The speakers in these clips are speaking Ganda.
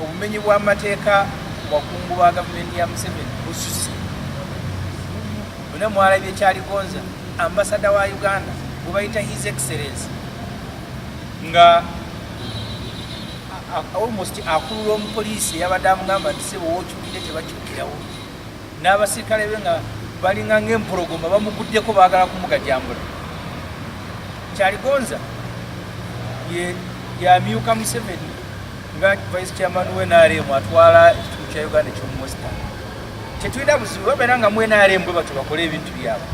obumenyi bw'amateeka wakungu ba gavumenti ya museveni bususi bune mwalabye kyaligonza ambasada wa uganda gwebayita his excellence nga almost akulula omupoliisi eyabadde amugamba nti sebo wokyukire tebakyukirawo n'abasirikale be nga balinga ng'empologoma bamuguddeko baagala kumugajambula kyaligonza yamyuka museveni nga vice chairman we nrm atwala ekitundu kya uganda ekyomuwestan tetulina buzibu babeera nga mu nrm bwe batyo bakole ebintu byabwe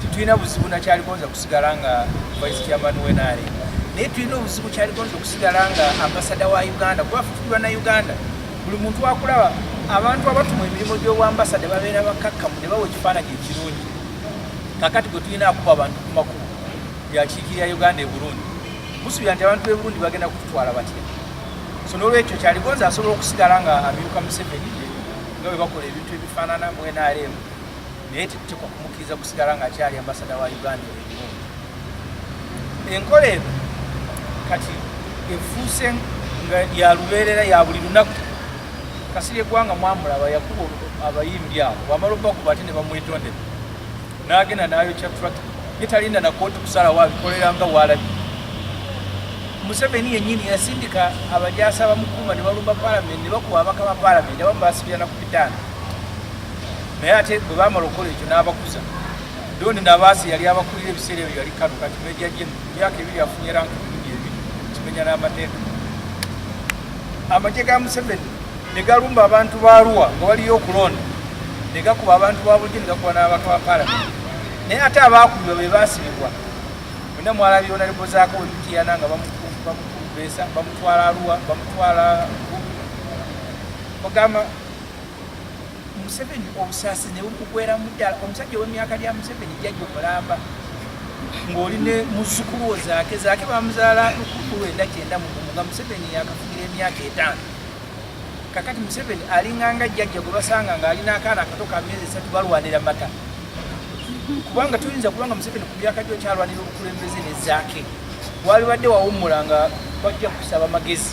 tetulina buzibu nakyaligonza kusigala nga vice chairman we nrm naye tulina obuzibu kyaligonza okusigala nga ambasada wa uganda kuba fufuliwa na uganda buli muntu wakulaba abantu abatu mu emirimu gy'obwambasada babeera bakakkamu ne bawa ekifaananyi ekirungi kakati gwe tulina akuba abantu ku makubo byakiikirira uganda e burundi musuubira nti abantu b'e burundi bagenda kututwala batya so n'olwekyo kyaligonza asobola okusigala nga amyuka museveni nga bwe bakola ebintu ebifaanana mu nrm naye tetutekwa kumukkiriza kusigala ng'akyali ambasada wa uganda enkola eno kati efuuse nga yalubeerera ya buli lunaku kasiri egwanga mwamulaba yakuba abayimbi abo wamala obakuba ate ne bamwetondera n'agenda n'ayokya trak yetalinda nakooti kusalawo abikolera nga walabi museveni yenyini yasindika abajasa bamukuuma ne balumba palamenti ne bakuba abaka ba palamenti abamu basibirana ku bitaano naye ate bwe bamala okukola ekyo n'abakuza Don Ndabaasi yali abakulira ebiseera ebyo yali kano kati meja jeno myaka ebiri afunye ranka emirundi ebiri kimenya n'amateka amagye ga Museveni ne galumba abantu ba Arua nga waliyo okulonda ne gakuba abantu ba bulijjo ne gakuba n'ababaka ba palamenti naye ate abaakubibwa be baasibibwa mwenna mwalabira onalebo zaako wemitiana nga bamukubeesa bamutwala Arua bamutwala ogamba Museveni obusaasi ne bumugweramu ddala. Omusajja ow'emyaka lya Museveni jjajja omulamba ng'oli ne muzzukulu wo zaake zaake bamuzaala lukuku lwenda kyenda mugumu nga Museveni yakafugira emyaka etaano. Kakati Museveni alinganga jjajja gwe basanga ng'alina akaana akato ka myezi esatu balwanira mata kubanga tuyinza kubanga Museveni ku myaka gyo kyalwanira obukulembeze ne zaake walibadde wawummula nga bajja kusaba magezi.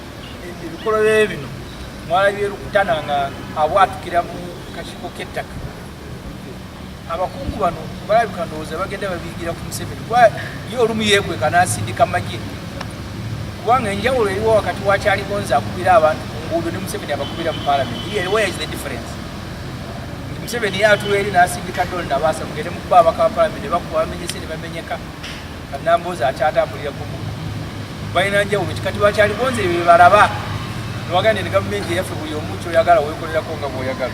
ebikolobero bino mwalabye lukutana nga abwatukira mu kakiiko k'ettaka abakungu bano balabika ndowooza bagenda babiyigira ku museveni kuba ye olumu yeekweka n'asindika magye kubanga enjawulo eriwo wakati wakyalikonza akubira abantu ku nguudo ne museveni abakubira mu palamenti where is the difference museveni ye atula eri n'asindika dol nabaasa mugende mukuba abaka ba palamenti ne bakuba bamenyese ne bamenyeka kanambozi akyatambulira kumu balina njawulo ki kati bakyali bonze byebalaba newagande ne gavumenti eyaffe buli omu kyoyagala wekolerako nga bwoyagala